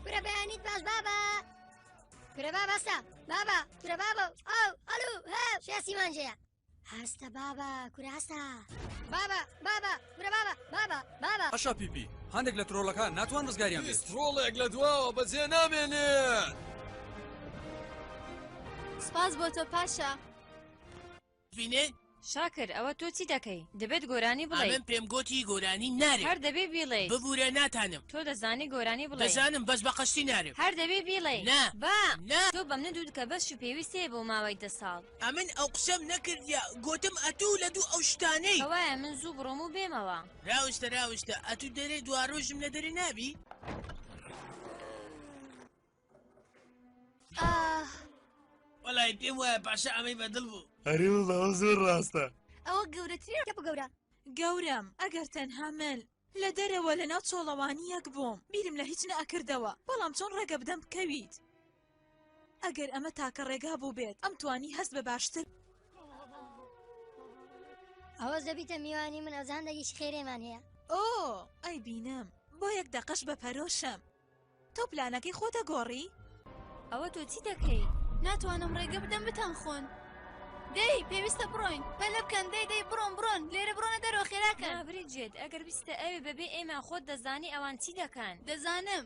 کورە بەیانیت باش بابا کورە باباسە بابا کورە بابە ئەو ئەلو هە شێسی مانجەیە هەستە بابا کورە هەستە بابا بابا کورە بابا بابا بابا ئەشا پیپی هەندێک لە ترۆڵەکان ناتوان ڕزگاریان بێت ترۆڵێک لە دواوە بەجێ نامێنێت سپاس بۆ تۆ پاشا بینێ. شاکر ئەوە تۆ چی دەکەی؟ دەبێت گۆرانی بڵێی. ئەمن پێم گۆتی گۆرانی نارێ. هەر دەبێ بیڵێیت. ببورە ناتانم. تۆ دەزانی گۆرانی بڵێی. دەزانم بەس بە قەستی نارێم. هەر دەبێ بیڵێی. نا. با. نا. تۆ بە منت وت کە بەشی پێویست هەیە بۆ ماوەی دە ساڵ. ئەمن ئەو قسەم نەکردیە گۆتم ئەتوو لە دوو ئەو شتانەی. کەوایە من زوو بڕۆم و بێمەوە. راوستە راوستە ئەتوو دەرێ دواڕۆژم لە دەرێ نابی. وەڵی پێم وایە پاشا ئەمەی بەدڵ بوو ئەری وڵا زۆر ڕاستە ئەوە گەورەترین کە بگەورە گەورم ئەگەر تەنها من لە دەرەوە لە ناو چۆڵەوانی یەک بووم بیرم لە هیچ نەکردەوە بەڵام چۆن ڕێگە بدەم بکەویت ئەگەر ئەمە تاکە ڕێگا بوو بێت ئەم توانی هەست بە باشتر ئەوە زەبیتە میوانی من ئەزان دەگیش خێرێمان هەیە ئۆ ئەی بینم بۆ یەک دەقەش بە پەرۆشم تۆ پلانەکەی خۆت ئەگۆڕی؟ ئەوە تۆ چی دەکەی؟ ناتوانم ڕێگە بدەم بتانخۆن. دەی پێویستە بڕۆین پەلە بکەن دەی دەی بڕۆن بڕۆن لێرە بڕۆنە دەرەوە خێراکە برێجێت ئەگەر بیستە ئەوێ بەبێ ئێمە خۆت دەزانی ئەوان چی دەکەن دەزانم.